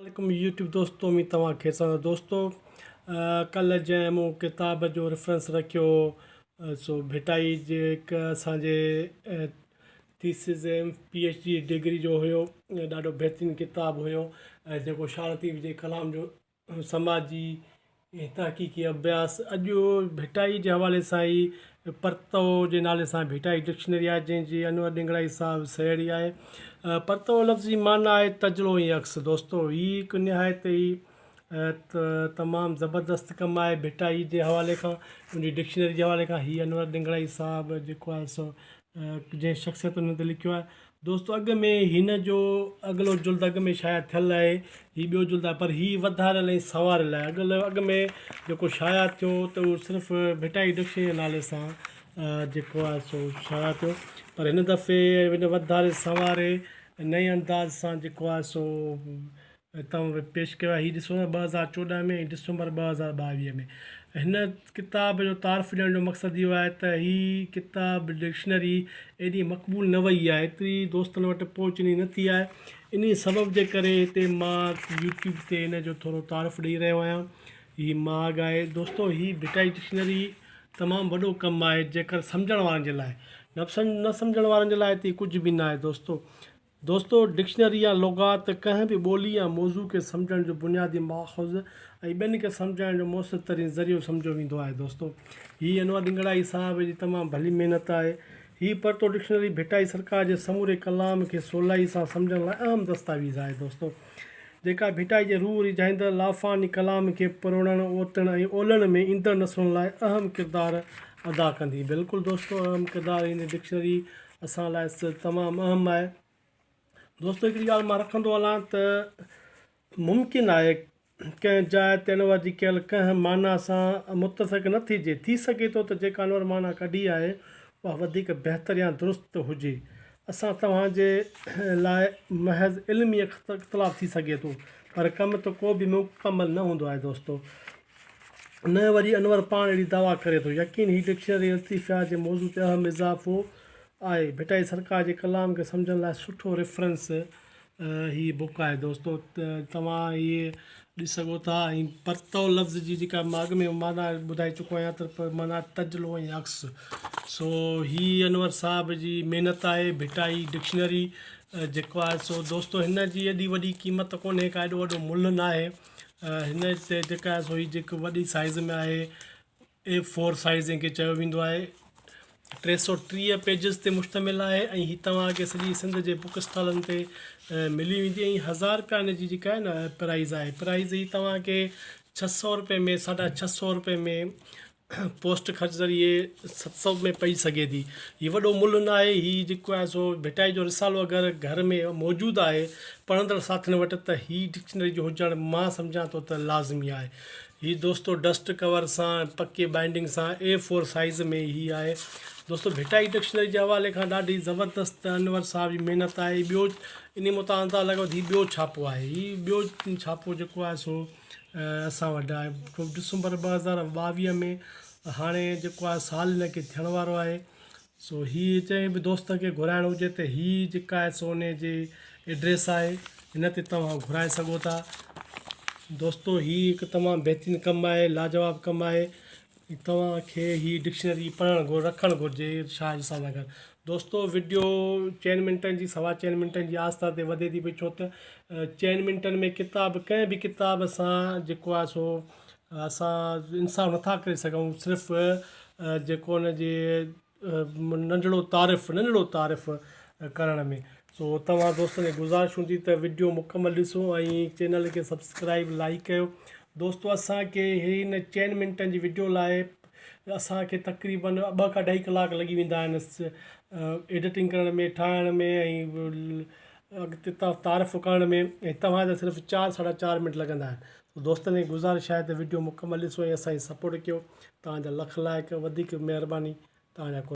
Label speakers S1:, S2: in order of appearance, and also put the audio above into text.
S1: عليڪم يوٽيوب دوستو اميد توهان کير سان آهيو دوستو ڪلهه جنهن مون ڪتاب جو ريفرنس رکيو هو سو ڀٽائي جي هڪ اسان جي thesis M P H D degree جو هيو ڏاڍو بهترين ڪتاب هيو ۽ جيڪو شارتيف جي ڪلام جو سماجي هي تحقيقي اڀياس اڄ ڀٽائي جي حوالي سان ئي پرتئو جي نالي سان ڀٽائي ڊڪشنري آهي جنهن جي انور ڏنگڙائي صاحب سهيڙي آهي. پرتئو لفظ جي معنيٰ آهي تجلو ۽ عڪس. دوستو هي هڪ نهايت ئي تمام زبردست ڪم آهي ڀٽائي جي حوالي کان ان جي ڊڪشنري جي حوالي کان هي انور ڏنگڙائي صاحب جيڪو آهي سو جنهن شخصيتن تي لکيو آهي دوستو اڳ ۾ هن جو اڳلو جلد اڳ ۾ شايع ٿيل آهي هي ٻيو جلد آهي پر هي وڌاريل ۽ سنواريل آهي اڳ اڳ ۾ جيڪو شايع ٿيو ته اهو صرف ڀٽائي ڊڪشنري جي نالي سان جيڪو آهي سو شايع ٿيو پر هن دفعي هن وڌاري سنواري نئين انداز سان جيڪو آهي سو هتان به پيش ڪيو آهي هي ڏسو ٻه هزار چوڏهن ۾ ۽ ڊسمبر ٻه هزار ٻاويهه ۾ هن ڪتاب جو تعارف ڏيڻ جو مقصد اهو آهي ته هي ڪتاب ڊڪشنري ايڏي مقبول نه وئي آهي ايتري دوستن وٽ پهچ انهي نه ٿي آهي انهي سبب جي ڪري هتي مان يوٽيوب تي هن جو ٿورو تعارف ڏئي رهيو آهيان هي ماڳ آهي دوستو هي ڀٽائي ڊڪشنري تمام وڏو ڪم آهي جيڪر سمجهڻ وارن جي لاء نفسن نه سمجهڻ وارن جي لاء ته هي ڪجهه به نه آهي دوستو دوستو، ڊڪشنري يا لغات ڪنهن به ٻولي يا موضوع کي سمجهڻ جو بنيادي ماخذ ۽ ٻين کي سمجهائڻ جو مؤثر ترين ذريعو سمجهيو ويندو آهي. دوستو، هي انور ڏنگڙائي صاحب جي تمام ڀلي محنت آهي. هي پرتو ڊڪشنري ڀٽائي سرڪار جي سموري ڪلام کي سولائي سان سمجهڻ لاء اهم دستاويز آهي. دوستو، جيڪا ڀٽائي جي روح ريجهائيندڙ لافاني ڪلام کي پروڙڻ، اوتڻ ۽ اولڻ ۾ ايندڙ نسلن لاء اهم ڪردار ادا ڪندي. بلڪل دوستو، اهم ڪردار هن ڊڪشنري اسان لاء تمام اهم آهي دوستو هڪڙي ڳالهه مان رکندو هلان ته ممڪن آهي ڪنهن جاء تي انور جي ڪيل ڪنهن معنيٰ سان متفق نه ٿيجي ٿي سگهي ٿو ته جيڪا انور معنيٰ ڪڍي آهي اها وڌيڪ بهتر يا درست هجي اسان توهان جي لاء محض علمي اختلاف ٿي سگهي ٿو پر ڪم ته ڪو به مڪمل نه هوندو آهي دوستو نه وري انور پاڻ اهڙي دعويٰ ڪري ٿو. يقين هي ڊڪشنري الطيفيات جي موضوع تي اهم اضافو آهي. ڀٽائي سرڪار جي ڪلام کي سمجهڻ لاء سٺو ريفرنس هي بوڪ آهي. دوستو توهان هي ڏسي سگهو ٿا ۽ پرتئو لفظ جي جيڪا مان اڳ ۾ معنيٰ ٻڌائي چڪو آهيان ته معنيٰ تجلو ۽ عڪس. سو هي انور صاحب جي محنت آهي ڀٽائي ڊڪشنري جيڪو آهي سو دوستو هن جي ايڏي وڏي قيمت ڪونهي ڪا ايڏو وڏو ملهه ناهي. هن جي سيل جيڪا آهي سو هي جيڪو وڏي سائز ۾ آهي اي فور سائز جنهن کي چيو ويندو آهي ٽي سو ٽيهه پيجز تي مشتمل آهي ۽ هي توهانکي سڄي سنڌ جي بوڪ اسٽالن تي ملي ويندي ۽ هزار رپيا هن جي جيڪا آهي نه پرائز آهي پرائز هي توهانکي ڇهه سو رپئي ۾ ساڍا ڇهه سو رپئي ۾ پوسٽ خرچ ذريعي ست سئو ۾ پئي سگهي ٿي. هي وڏو ملهه ناهي. هي جيڪو آهي سو ڀٽائي جو رسالو اگر گهر ۾ موجود آهي پڙهندڙ ساٿين وٽ ته هي ڊڪشنري جو هجڻ مان سمجهان ٿو ته لازمي آهي. هي دوستو ڊسٽ ڪور سان پڪي بائينڊنگ سان اي فور سائيز ۾ هي آهي. دوستو ڀٽائي ڊڪشنري جي حوالي کان ڏاڍي زبردست انور صاحب جي محنت آهي. ٻيو انهي متان اندازه لڳائيو ته هي ٻيو ڇاپو آهي. هي ٻيو ڇاپو جيڪو آهي سو اسان وٽ آهي ڊسمبر ٻه هزار ٻاويهه ۾ هاڻي جيڪو آهي سال هن کي ٿيڻ وارو آهي سو هي جنهن به دوست کي گهرائڻو هجي ته هي جيڪا آهي سو ان جي ايڊريس آهي هن تي توهان گهرائي سگهو ٿا دوستو هي هڪ تمام بهترين ڪم آهي لاجواب ڪم آهي توهان کي هي ڊڪشنري پڙهڻ گهر رکڻ گهرجي شاهه جي سان سان دوستو وڊيو چئن منٽن جي سوا چئن منٽن جي آستا تي وڌي ٿي پئي ڇو ته چئن منٽن ۾ ڪتاب ڪنهن به ڪتاب سان جيڪو آهي سو اسان انصاف نٿا ڪري سگهون صرف جيڪو ان جي ننڍڙو تعارف ننڍڙو تعارف ڪرڻ ۾ سو توهان دوستن کي گذارش هوندي ته وڊيو مڪمل ڏسو ۽ چينل کي سبسڪرائب لائڪ ڪيو دوستو اسان کي هن چئن منٽن جي وڊيو لاء اسان کي تقريبا ٻه کان ڏهي ڪلاڪ لڳي ويندا آهن ايڊيٽنگ ڪرڻ ۾ ٺاهڻ ۾ ۽ اڳتي تعارف ڪرڻ ۾ ۽ توهان جا صرف چار ساڍا چار منٽ لڳندا آهن دوستن کي گذارش آهي ته وڊيو مڪمل ڏسو ۽ اسان جي سپورٽ ڪيو توهان جا لک لائق وڌيڪ مهرباني توهان جا قربان.